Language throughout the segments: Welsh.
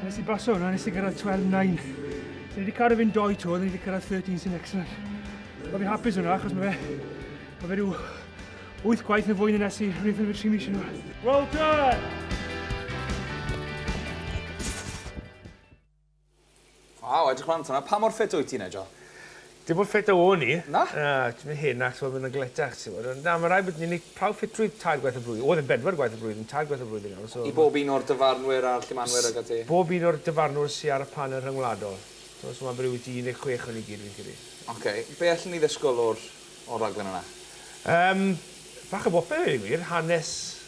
Nes i basio hwnna, nes i gyrraedd 12.9. So ni wedi cael rhywun doi tŵr, ni wedi cyrraedd 13 sy'n excellent. Mae fi'n hapus hwnna, achos mae fe, mae fe rhyw 8 gwaith yn fwy na nes i rhywun ffilmio 3 mis yn ôl. Well done! Waw, edrych lan fan'na. Pa mor ffit wyt ti, Nigel? Dim mor ffit a o'n i. Na? Na, ti myn' hen a t'mod ma' wnna'n galetach ti mod ond na ma' rai' bod ni'n neu' prawf ffitrwydd tair gwaith y flwy- oedd e'n bedwar gwaith y flwyddyn, tair gwaith y flwyddyn nawr so ma'... I bob un o'r dyfarnwyr a'r llemanwyr ag ati? S- bob un o'r dyfarnwr sy ar y panel rhyngwladol. T'mo' so ma' be' rwbeth i un deg chwech o ni gyd fi'n credu. Oce, be' allen ni ddysgwl o'r o'r raglen yna? Yym, bach o bopeth i ddweud y gwir, hanes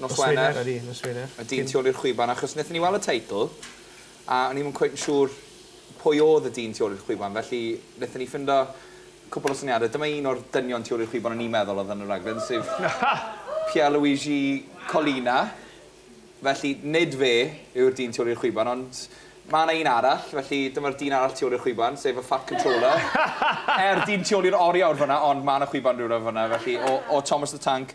Nos Wener. Odi, nos Wener. Y dyn tu ôl i'r chwiban, achos wnaethon ni weld y teitl, a o'n i ddim yn cweit yn siŵr pwy oedd y dyn tu ôl i'r chwiban, felly wnaethon ni ffindo cwpl o syniadau. Dyma un o'r dynion tu ôl i'r chwiban o'n i'n meddwl oedd yn y rhaglen, sef Pierluigi Collina. Felly, nid fe yw'r dyn tu ôl i'r chwiban, ond mae yna un arall, felly dyma'r dyn arall tu ôl i'r chwiban, sef y Fat Controller. Er dyn tu ôl i'r oriawr fanna, ond mae yna chwiban rhywle fanna, felly o, o Thomas the Tank.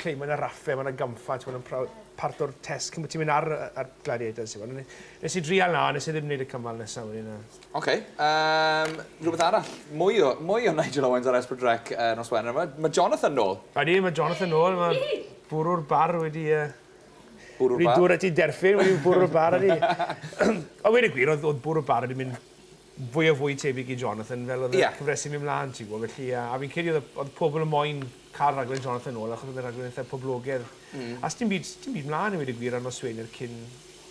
Cle mae 'na raffe, mae 'na gampfa, t'mod yn prawf- part o'r test cyn bo' ti'n mynd ar yy ar Gladiators t'mod ne- nes i drial 'na nes i ddim neud y cymal nesa wedyn na. Oce yym rwbeth arall mwy o mwy o Nigel Owens ar Esbrid Rec yy nos Wener ma' ma' Jonathan nôl. Ydi ma' Jonathan nôl ma' bwrw'r bar wedi yy Bwrw'r bar? Wedi dŵr a ti derfyn wedi bwrw'r bar ydi. A weud y gwir o'dd o'dd bwrw'r bar wedi mynd fwy a fwy tebyg i Jonathan fel oedd y cyfresu'n mynd mlaen ti'n gwybod felly yy a fi'n credu oedd y oedd pobl yn moyn cael rhaglen Jonathan nôl achos oedd e'n rhaglen eitha poblogedd a sdim byd sdim byd mlaen i weud y gwir ar noswener cyn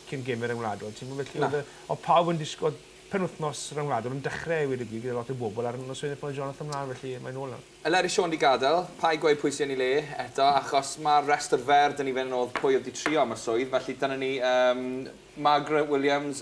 cyn gêm y ryngwladol ti'n gwybod felly oedd yy oedd pawb yn disgwyl oedd penwythnos ryngwladol yn dechrau i weud y gwir gyda lot o bobl ar noswener pan oedd Jonathan mlaen felly mae'n nôl nawr. Yn ler i Siôn 'di gadael, paid gweud pwy sy yn ei le eto achos ma'r rhestr fer 'da ni fyn 'yn odd pwy odd 'di trio am y swydd felly dyna ni yym Margaret Williams,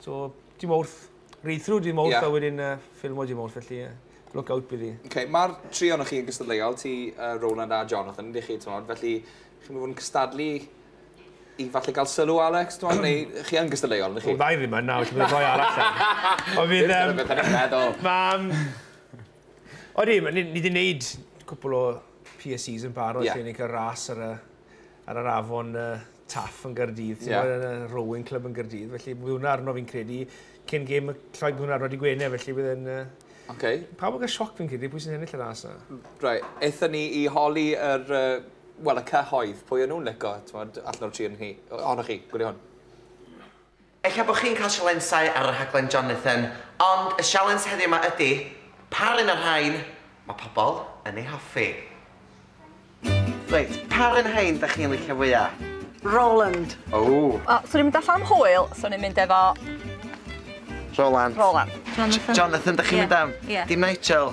So, dim wrth. Read through dim wrth yeah. a wedyn uh, ffilmo dim wrth, felly uh, look out bydd i. Okay, Mae'r tri o'n chi yn gystadleuol, ti, uh, Roland a Jonathan, ydych chi, tymod, felly chi'n mynd yn cystadlu i falle gael sylw, Alex, dwi'n neu chi yn gystadleuol, ydych chi? O, ddau ddim yn nawr, ti'n mynd rhoi arall yn. O, fydd... Dwi'n beth yn meddwl. Mae... O, ni wedi gwneud cwpl o PSCs yn barod yeah. lle ni'n cael ras ar y ar yr afon uh, Taff yn Gyrdydd, yeah. yn y Rowing Club yn Gyrdydd, felly bydd hwnna arno fi'n credu, cyn gêm y lloi bydd hwnna rodi gwene, felly bydd yn... Uh, okay. Pawb yn cael sioc fi'n credu, pwy sy'n ennill y ras na? Rai, eitha ni i holi yr, uh, wel, y cyhoedd, pwy o'n nhw'n lico, allan o'r tri yn hi, ohonoch chi, gwylio hwn. Ella bod chi'n cael sialensau ar y rhaglen Jonathan, ond y sialens heddiw 'ma ydy, pa run o'r rhain mae pobl yn ei hoffi? Reit, pa run o rhain dach chi'n licio fwya? Roland. Ww. O, swn i'n mynd allan am hwyl, swn i'n mynd efo... Roland. Roland. Jonathan. Jonathan dach chi'n mynd am? Ie. Dim Nigel?